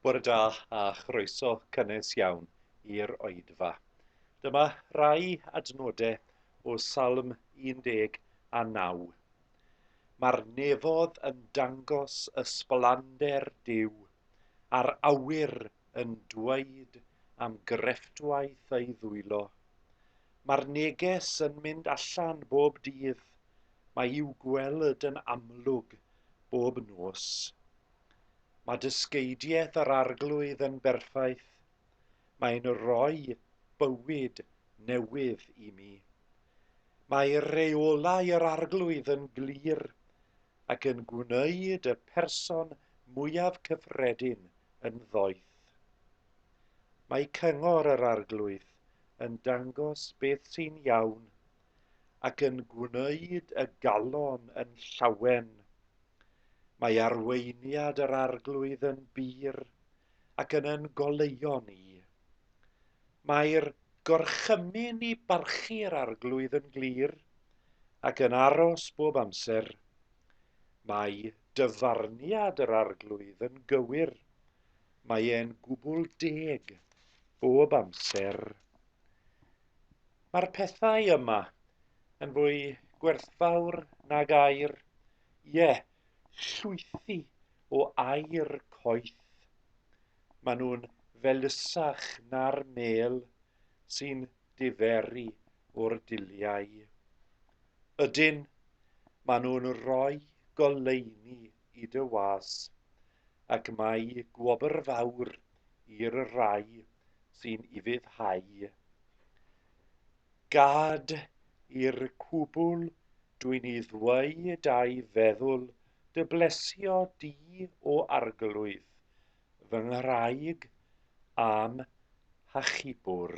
Bore da a chroeso cynnes iawn i'r oedfa. Dyma rai adnodau o Salm 19. Mae'r nefodd yn dangos ysblander Duw, a'r awyr yn dweud am grefftwaith ei ddwylo. Mae'r neges yn mynd allan bob dydd, mae i'w gweld yn amlwg bob nos. Mae dysgeidiaeth yr Arglwydd yn berffaith, mae'n rhoi bywyd newydd i mi. Mae reolau yr Arglwydd yn glir ac yn gwneud y person mwyaf cyffredin yn ddoeth. Mae cyngor yr Arglwydd yn dangos beth sy'n iawn ac yn gwneud y galon yn llawen. Mae arweiniad yr arglwydd yn bur ac yn yn goleuo ni. Mae'r gorchymyn i barchu'r arglwydd yn glir ac yn aros bob amser. Mae dyfarniad yr arglwydd yn gywir mae e'n gwbl deg bob amser. Mae'r pethau yma yn fwy gwerthfawr nag air, ie, yeah, llwythi o air coeth. Maen nhw'n felysach na'r mêl sy'n diferu o'r dulliau. Ydyn, maen nhw'n rhoi goleuni i dy was, ac mae gwobr fawr i'r rhai sy'n ufuddhau. Gad i'r cwbl dwi'n i ddweud a'i feddwl dy blesio di o arglwydd, fy nghraig a'm hachubwr.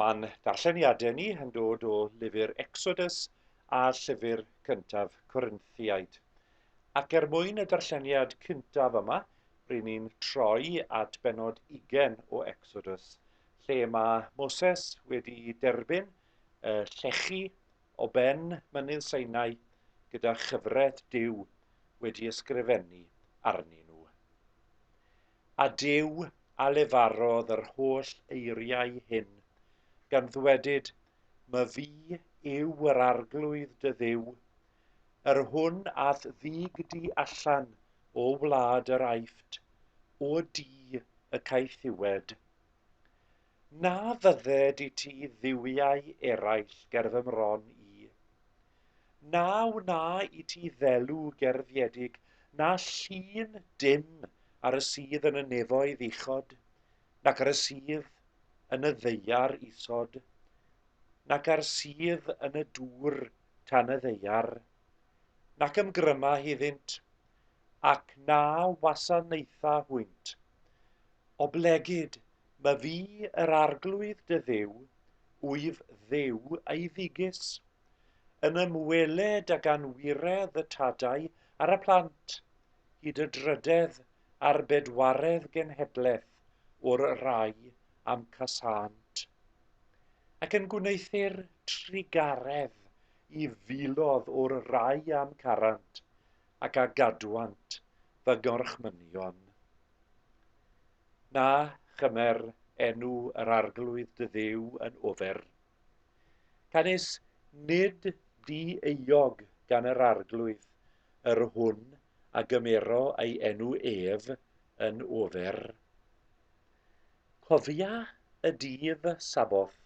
Mae'n darlleniadau ni yn dod o lyfr Exodus a llyfr cyntaf Corinthiaid. Ac er mwyn y darlleniad cyntaf yma, rydyn ni'n troi at benod ugen o Exodus, lle mae Moses wedi derbyn y llechi o ben mynydd Seinau gyda chyfret Duw wedi ysgrifennu arnyn nhw. A Duw a lefarodd yr holl eiriau hyn, gan ddwedyd, My fi yw yr arglwydd dy Dduw, yr hwn a'th ddug di allan o wlad yr Aifft, o du y caethiwed. Na fyddet i ti dduwiau eraill ger fy mron i. Na wna i ti ddelw gerfiedig, na llun dim ar y sydd yn y nefoedd uchod, nac ar y sydd yn y ddeiar isod, nac ar sydd yn y dŵr tan y ddeiar, nac ymgryma hiddynt, ac na wasanaetha hwynt. Oblegid, my fi yr arglwydd dy dduw, wyf dduw ei ddigys, yn ymweled ag anwiredd y tadau ar y plant, hyd y drydedd a'r bedwaredd genhedlaeth o'r rai am casânt. Ac yn gwneuthur trugaredd i filodd o'r rai am carant, ac a gadwant fy ngorchmynion. Na chymer enw yr arglwydd dy dduw yn ofer. Canys nid di euog gan yr arglwydd yr hwn a gymero ei enw ef yn ofer. Cofia y dydd Saboth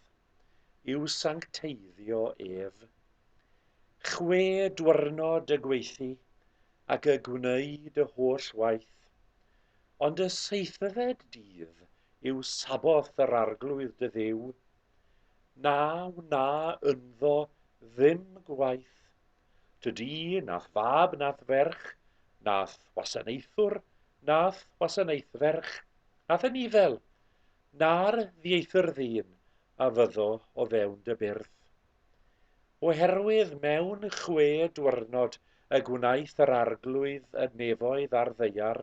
yw sancteiddio ef. Chwe dwrnod y gweithi ac y gwneud y holl waith, ond y seithfed dydd yw saboth yr arglwydd dy dduw, na wna ynddo ddim gwaith, tydi nath fab nath ferch, nath wasanaethwr nath wasanaethferch, nath anifail, na'r ddieithr ddyn a fyddo o fewn dy byrth. Oherwydd mewn chwe dwyrnod y gwnaeth yr arglwydd y nefoedd a'r ddeiar,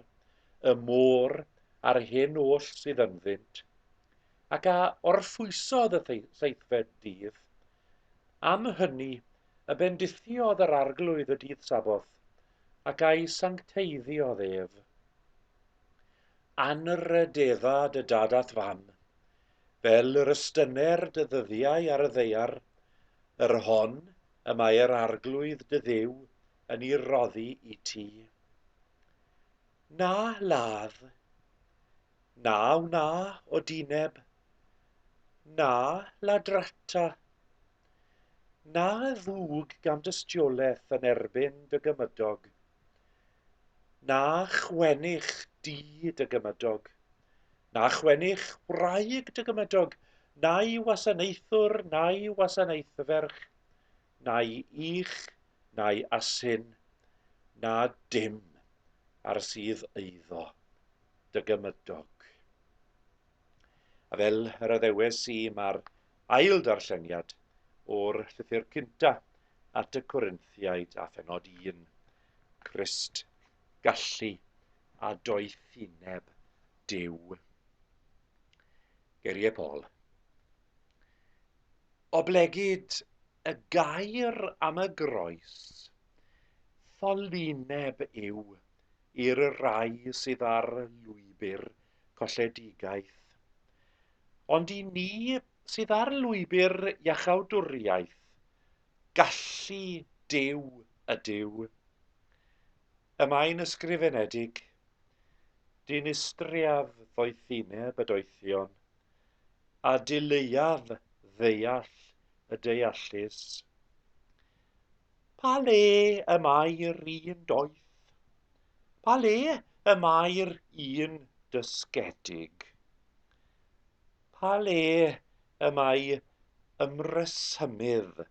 y môr a'r hen oll sydd ynddynt, ac a orffwysodd y seithfed dydd. Am hynny y bendithiodd yr arglwydd y dydd Saboth, ac a'i sancteiddiodd ef. Anrhydedda dy dad a'th fam, fel yr ystyner dy ddyddiau ar y ddaear, yr hon y mae yr Arglwydd dy Dduw yn ei roddi i ti. Na ladd, na wna o dineb, na ladrata, na ddwg gan dystiolaeth yn erbyn dy gymydog, Na chwennych di dy gymydog, na chwennych wraig dy gymydog, na'i wasanaethwr, na'i wasanaethferch, na'i ych, na'i asyn, na dim ar sydd eiddo dy gymydog. A fel yr addewes i, mae'r ail ddarlleniad o'r llythyr cynta at y Corinthiaid a phennod 1, Crist, gallu a doethineb Duw. Geiriau Paul. Oblegid y gair am y groes, ffolineb yw i'r rai sydd ar lwybr colledigaeth. Ond i ni sydd ar lwybr iachawdwriaeth, gallu Duw ydyw. Y mae'n ysgrifenedig, Dinistriaf ddoethineb y doethion, a dileuaf ddeall y deallus. Pa le y mae'r un doeth? Pa le y mae'r un dysgedig? Pa le y mae ymresymydd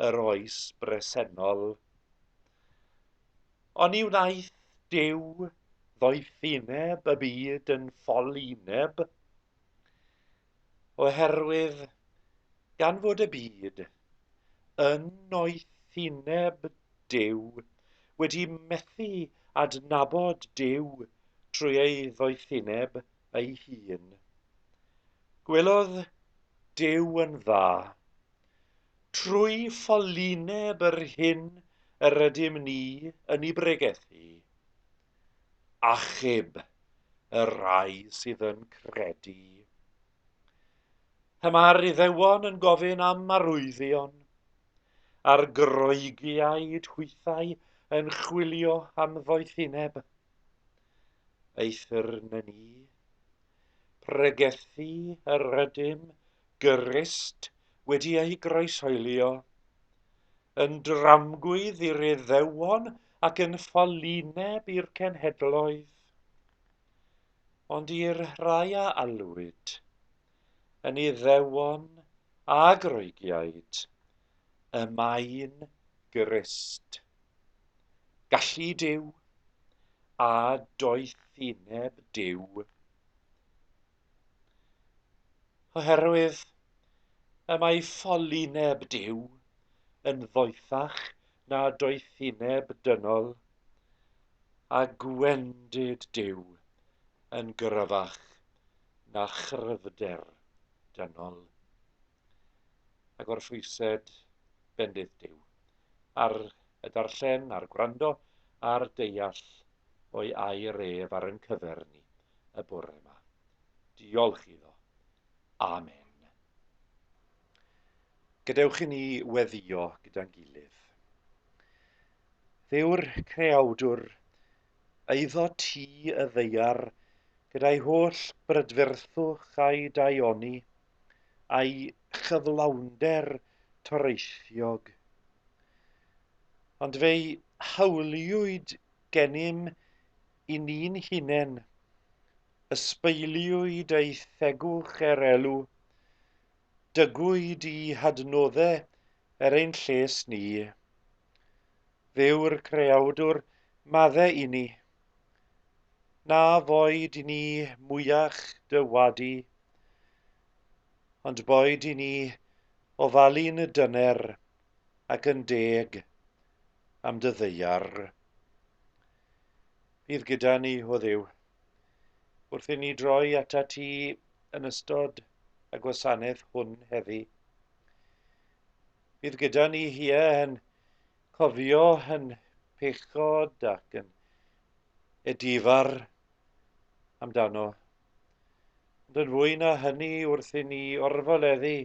yr oes bresennol? Oni wnaeth Duw ddoethineb y byd yn ffolineb? oherwydd gan fod y byd yn noethineb Duw wedi methu adnabod Duw trwy ei ddoethineb ei hun. Gwelodd Duw yn dda, trwy ffolineb yr hyn yr ydym ni yn ei bregethu, achub y rhai sydd yn credu. Pan mae'r Iddewon yn gofyn am marwyddion, a'r Groegiaid hwythau yn chwilio am ddoethineb, eithr na ni. Pregethu yr ydym Grist wedi ei groesoelio, yn dramgwydd i'r Iddewon ac yn ffolineb i'r cenhedloedd, ond i'r rhai a alwyd, yn Iddewon a Groegiaid, y mae'n Grist. Gallu Duw, a doethineb Duw. Oherwydd y mae ffolineb Duw yn ddoethach na doethineb dynol, a gwendid Duw yn gryfach na chryfder dynol. A gorffwysed bendith Duw ar y darllen a'r gwrando a'r deall o'i air ef ar yn cyfer ni y bore yma. Diolch iddo. Amen. Gadewch i ni weddio gyda'n gilydd. Fe yw'r creawdwr, eiddo ti y ddeiar, gyda'i holl brydferthwch a'i daioni, a'i chyflawnder toreithiog. Ond fe'i hawliwyd gennym i ni'n hunain, ysbeiliwyd ei thegwch er elw, dygwyd i hadnoddau er ein lles ni. Fe yw'r Creawdwr maddau i ni. Na foed i ni mwyach dy wadu, ond boed i ni ofalu'n dyner ac yn deg am dy ddeiar. Bydd gyda ni, o Dduw, wrth i ni droi ata ti yn ystod y gwasanaeth hwn heddi. Bydd gyda ni hi yn cofio yn pechod ac yn edifar amdano. Ond yn fwy na hynny wrth i ni orfoleddu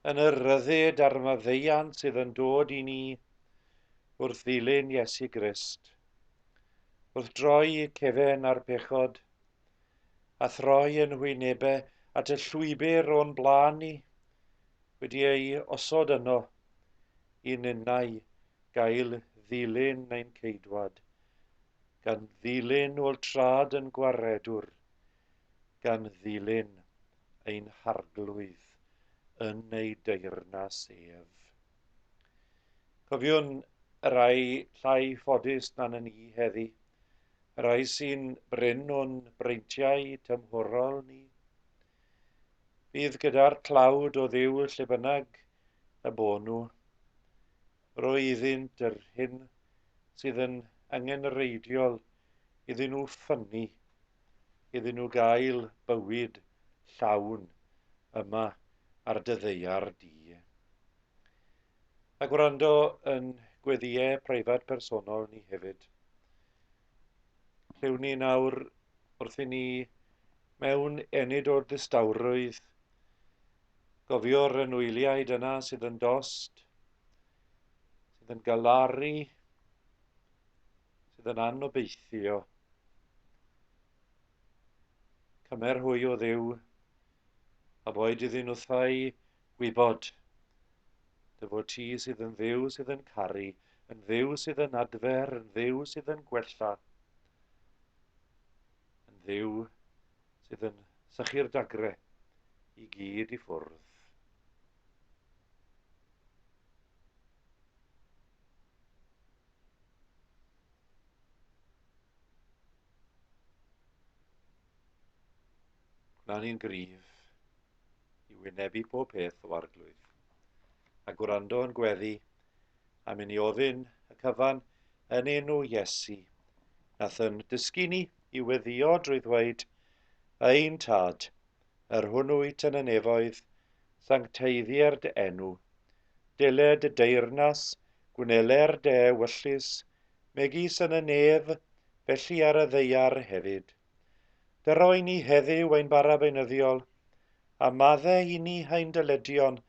yn y ryddid a'r maddeiant sydd yn dod i ni wrth ddilyn Iesu Grist. Wrth droi cefen ar bechod, a throi yn wynebau at y llwybr o'n blaen ni, wedi ei osod yno, i ninnau gael ddilyn ein ceidwad, gan ddilyn ôl trad yn gwaredwr, gan ddilyn ein harglwydd yn ei deyrnas ef. Cofiwn y rhai llai ffodus na na ni heddi, y rhai sy'n brin o'n breintiau tymhorol ni. Bydd gyda'r tlawd o ddiw lle bynnag y bo nhw. Roi iddynt yr hyn sydd yn angenreidiol iddyn nhw ffynnu, iddyn nhw gael bywyd llawn yma ar dy ddeiar di. A gwrando yn gweddiau preifat personol ni hefyd. Rhyw ni nawr wrth i ni mewn enid o'r distawrwydd. Gofio'r anwyliaid yna sydd yn dost, sydd yn galaru, sydd yn anobeithio. Cymer hwy o ddew, a boed iddyn nhw thai Gwybod. Dy fod ti sydd yn Dduw sydd yn caru, yn Dduw sydd yn adfer, yn Dduw sydd yn gwella, yn Dduw sydd yn sychu'r dagre i gyd i ffwrdd. Gwna ni'n gryf i wynebu pob peth o arglwydd, a gwrando yn gweddi, am i ni ofyn y cyfan yn enw Iesu, nath yn dysgu ni i weddio drwy ddweud, Ein Tad, yr hwnnw wyt yn y nefoedd, sancteiddier dy enw, dele dy deyrnas, gwnele'r de wyllus, megis yn y nef, felly ar y ddeiar hefyd. Fe roen ni heddiw ein bara beunyddiol, a madde inni ein dyledion,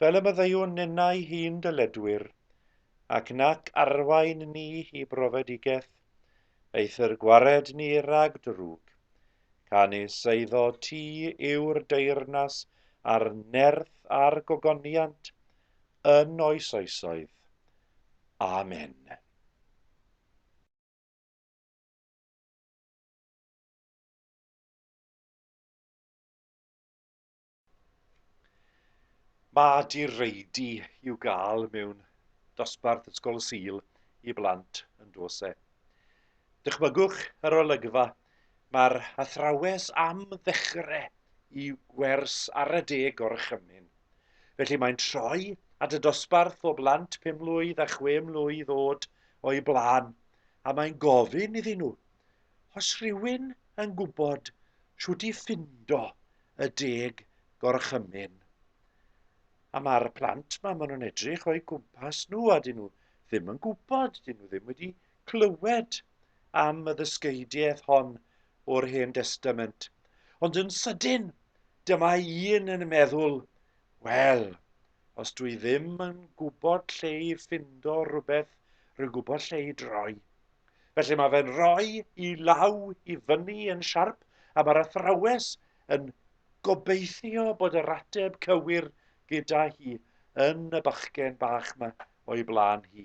fel y maddeuwn ninnau hi'n dyledwyr, ac nac arwain ni hi brofedigeth, eithr gwared ni rag drwg. Canys eiddo ti yw'r deyrnas a'r nerth a'r gogoniant yn oes oesoedd. Amen. Mae direidi i'w gael mewn dosbarth Ysgol Sul i blant yn Dose. Dychmygwch yr olygfa, mae'r athrawes am ddechrau i wers ar y deg gorchymyn. Felly mae'n troi at y dosbarth o blant pum mlwydd a chwe mlwydd oed o'i blaen a mae'n gofyn iddyn nhw, Os rhywun yn gwybod shwt i ffindo y deg gorchymyn. A mae'r plant ma, maen nhw'n edrych o'i gwmpas nhw a dyn nhw ddim yn gwybod, dyn nhw ddim wedi clywed am y ddysgeidiaeth hon o'r Hen Destament. Ond yn sydyn, dyma un yn meddwl, Wel, os dwi ddim yn gwybod lle i ffindo rhywbeth, rwy'n gwybod lle i droi. Felly mae fe'n rhoi i law i fyny yn siarp a mae'r athrawes yn gobeithio bod yr ateb cywir gyda hi yn y bachgen bach yma o'i blaen hi.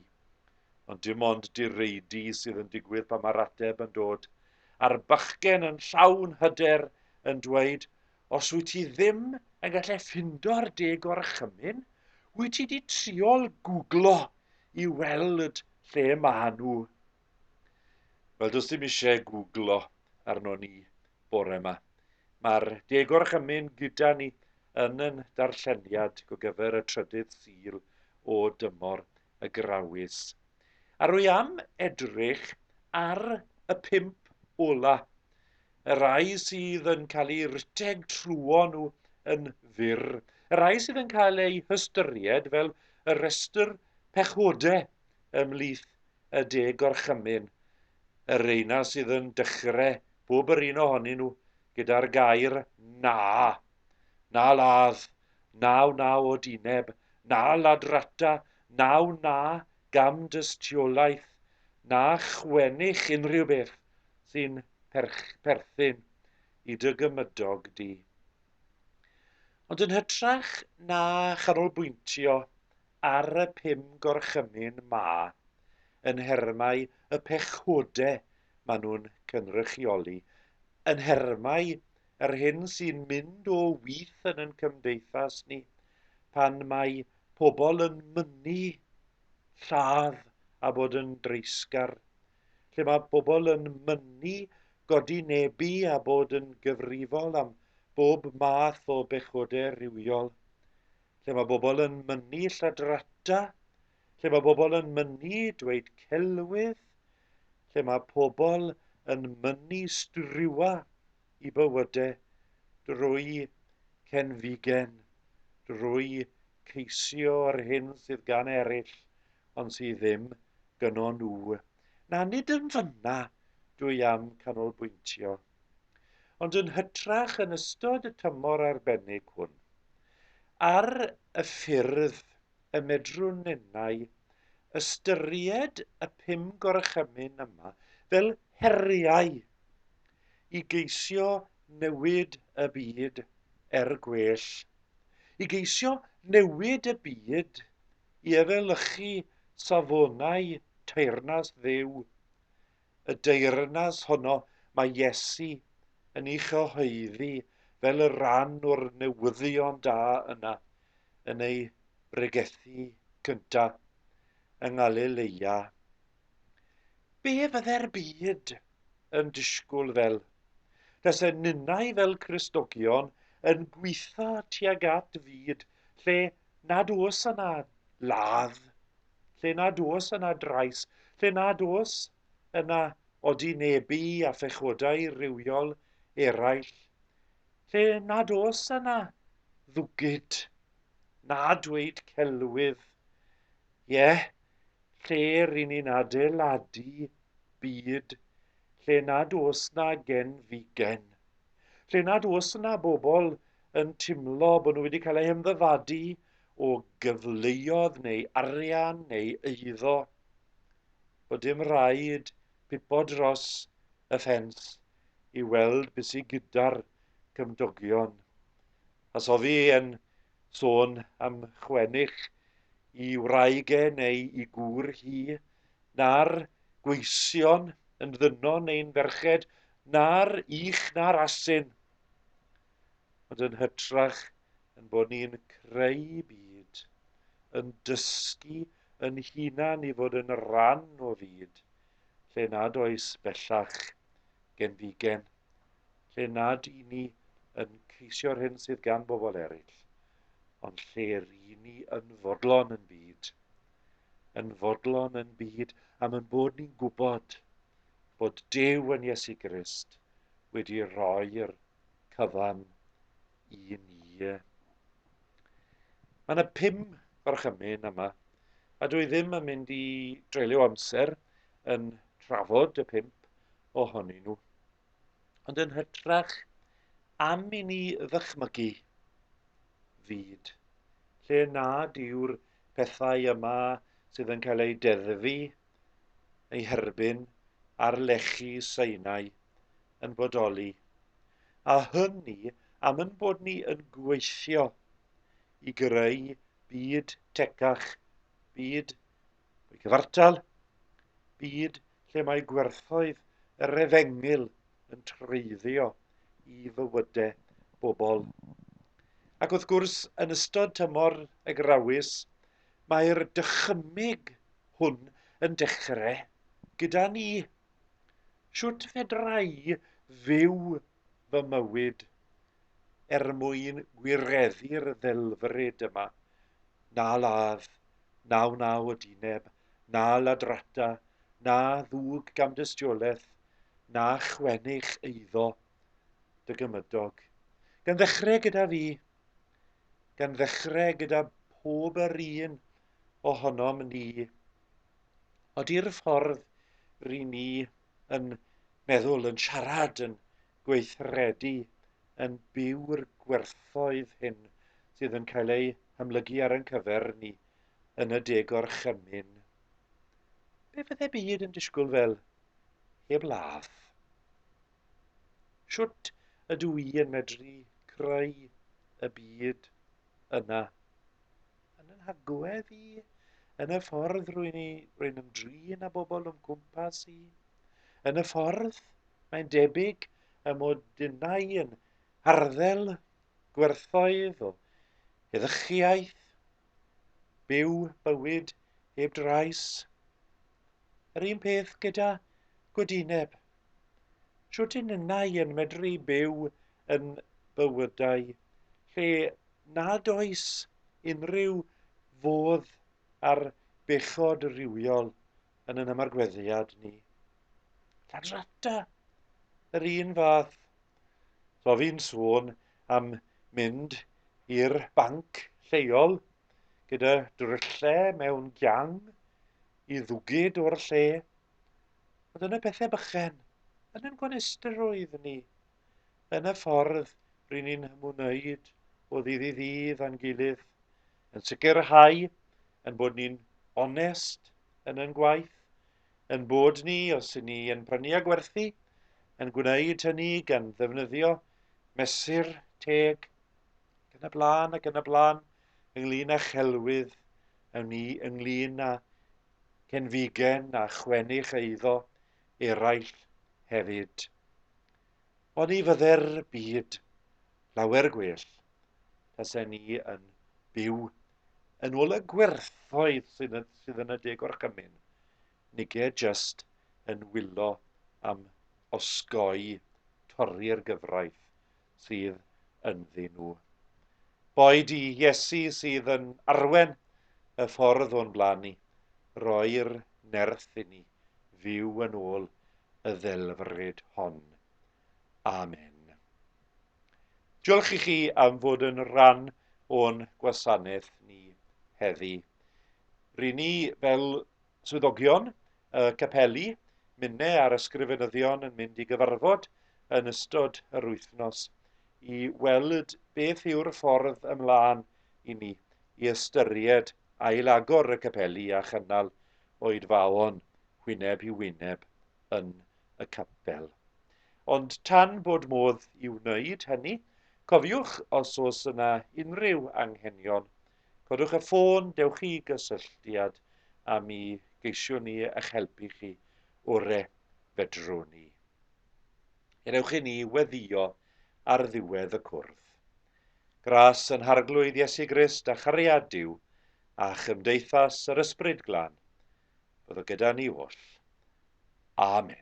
Ond dim ond direidi sydd yn digwydd pan mae'r ateb yn dod, a'r bachgen yn llawn hyder yn dweud, Os wyt ti ddim yn gallu ffindo'r de gorchymyn, wyt ti wedi triol gwglo i weld lle mae nhw? Wel, does dim eisiau gwglo arno ni bore yma. Mae'r de gorchymyn gyda ni yn yn darlleniad go gyfer y trydydd sil o dymor y grawys. A rwy am edrych ar y pimp ola y rhai sydd yn cael eu rhedeg trwyon nhw yn fyr, y rhai sydd yn cael eu hystyried fel y rhestr pechodau ymhlith y deg gorchymyn, y reina sydd yn dechrau bob yr un ohonyn nhw gyda'r gair na, na ladd, naw na o dineb, na ladrata, naw na gam dystiolaeth, na chwennych unrhyw beth. sy'n perthyn i dy gymydog di. Ond yn hytrach na chanolbwyntio ar y pum gorchymyn 'ma yn nhermau y pechodau maen nhw'n cynrychioli, yn nhermau yr hyn sy'n mynd o with yn ein cymdeithas ni, pan mae pobl yn mynnu lladd a bod yn dreisgar, lle mae pobl yn mynnu godi nebu a bod yn gyfrifol am bob math o bechoder rhywiol, lle mae bobl yn mynnu lladrata, lle mae bobl yn mynnu dweud celwydd, lle mae pobl yn mynnu striwa i bywyde drwy cenfigen, drwy ceisio yr hyn sydd gan eraill ond sydd ddim gyno nhw. Na, nid yn fyna dwi am canolbwyntio, ond yn hytrach yn ystod y tymor arbennig hwn, ar y ffyrdd y medrwn ninnau ystyried y pum gorchymyn yma fel heriau i geisio newid y byd er gwell, i geisio newid y byd i efelychu safonau teyrnas Dduw, y deyrnas honno mae Iesu yn ei chyhoeddi fel y rhan o'r newyddion da yna yn ei bregethu cyntaf yng Ngalileia. Be fydde'r byd yn disgwyl fel? Tase ninnau fel Christnogion yn gweitho tuag at fyd lle nad oes yna ladd, lle nad oes yna drais, lle nad oes yna odinebu a phechodau rhywiol eraill, lle nad oes yna ddwgyd, na dweud celwydd. Ie, yeah, lle ry'n ni'n adeiladu byd lle nad oes 'na gen figen, lle nad oes yna bobl yn timlo bod nhw wedi cael eu hymddyfadu o gyfleoedd neu arian neu eiddo, bod dim rhaid pipo dros y ffens i weld beth sy gyda'r cymdogion. Os o fi yn sôn am chwennych i wraig e neu i gŵr hi, na'r gweision yn ddynon ein ferched, na'r ych na'r asyn, ond yn hytrach yn bod ni'n creu byd, yn dysgu yn hunan i fod yn ran o fyd lle nad oes bellach genfigen lle nad y'n ni yn ceisio'r hyn sydd gan bobl eraill, ond lle ry'n ni yn fodlon yn byd. Yn fodlon yn byd am yn bod ni'n gwybod bod Duw yn Iesu Grist wedi roi'r cyfan i ni. Mae yna pum gorchymyn yma, a dwi ddim yn mynd i dreulio amser yn trafod y pump ohonyn nhw. Ond yn hytrach, am i ni ddychmygu fyd lle nad yw'r pethau yma sydd yn cael eu deddfu, eu herbyn ar lechi Sinai yn bodoli, a hynny am yn bod ni yn gweithio i greu byd tecach, byd Y cyfartal byd lle mae gwerthoedd yr efengyl yn treiddio i fywydau bobl. Ac wrth gwrs, yn ystod tymor y grawys, mae'r dychymyg hwn yn dechrau gyda ni. Sut fedra i fyw fy mywyd er mwyn gwireddu'r ddelfryd yma, na ladd, na wnaw y dyneb, na ladrata, na ddug gamdystiolaeth, na chwennych eiddo dy gymydog. Gan ddechrau gyda fi, gan ddechrau gyda pob yr un ohonom ni, odi'r ffordd ry ni yn meddwl, yn siarad, yn gweithredu, yn byw'r gwerthoedd hyn sydd yn cael eu hamlygu ar ein cyfer ni yn y De Gorchymyn. Be fydde byd yn disgwyl fel heb ladd? Sut ydw i yn medru creu y byd yna? yn yn hagwedd i, yn y ffordd rwy'n i, rwy'n ymdrin â bobl o'm cwmpas i. Yn y ffordd, mae'n debyg y mod dynnau yn harddel gwerthoedd o eddychiaeth, byw bywyd heb drais, Yr un peth gyda gwydineb. Shwt yn ynnau yn medru byw yn bywydau lle nad oes unrhyw fodd ar bechod rhywiol yn yn ymargweddiad ni? Lladrata! Yr un fath. So fi'n sôn am mynd i'r banc lleol gyda dryllau mewn giang i ddwgyd o'r lle. Ond yn y pethau bychen, yn yn gwanestr oedd ni. Yn y ffordd rydyn ni'n hymwneud o ddydd i ddydd a'n gilydd, yn sicrhau yn bod ni'n onest yn yn gwaith, yn bod ni, os yn ni yn prynu a gwerthu, yn gwneud hynny gan ddefnyddio mesur teg, ac yn y blaen ac yn y blaen, ynglŷn â chelwydd, yn ni ynglŷn â cenfigen a chwennych eiddo eraill hefyd. Oni fydde'r byd llawer gwell tasen ni yn byw yn ôl y gwerthoedd sydd yn, sydd yn y de gorchymyn. Nige just yn wylo am osgoi torri'r gyfraith. sydd ynddyn nhw. Boed i Iesu sydd yn arwen y ffordd o'n blaen ni, roi'r nerth i ni fyw yn ôl y ddelfryd hon. Amen. Diolch i chi am fod yn rhan o'n gwasanaeth ni heddi. Ry ni fel Swyddogion y capeli, minnau a'r ysgrifenyddion yn mynd i gyfarfod yn ystod yr wythnos i weld beth yw'r ffordd ymlaen i ni i ystyried ail-agor y capeli a chynnal oedfaon wyneb i wyneb yn y capel. Ond tan bod modd i wneud hynny, cofiwch os oes yna unrhyw anghenion Codwch y ffôn, dewch i gysylltiad â mi, geisiwn ni eich helpu chi ore fedrwn ni. Hyn ewch i ni weddio ar ddiwedd y cwrdd. Gras yn harglwydd Iesu Grist a chariad Duw a chymdeithas yr Ysbryd Glân, fyddo gyda ni oll. Amen.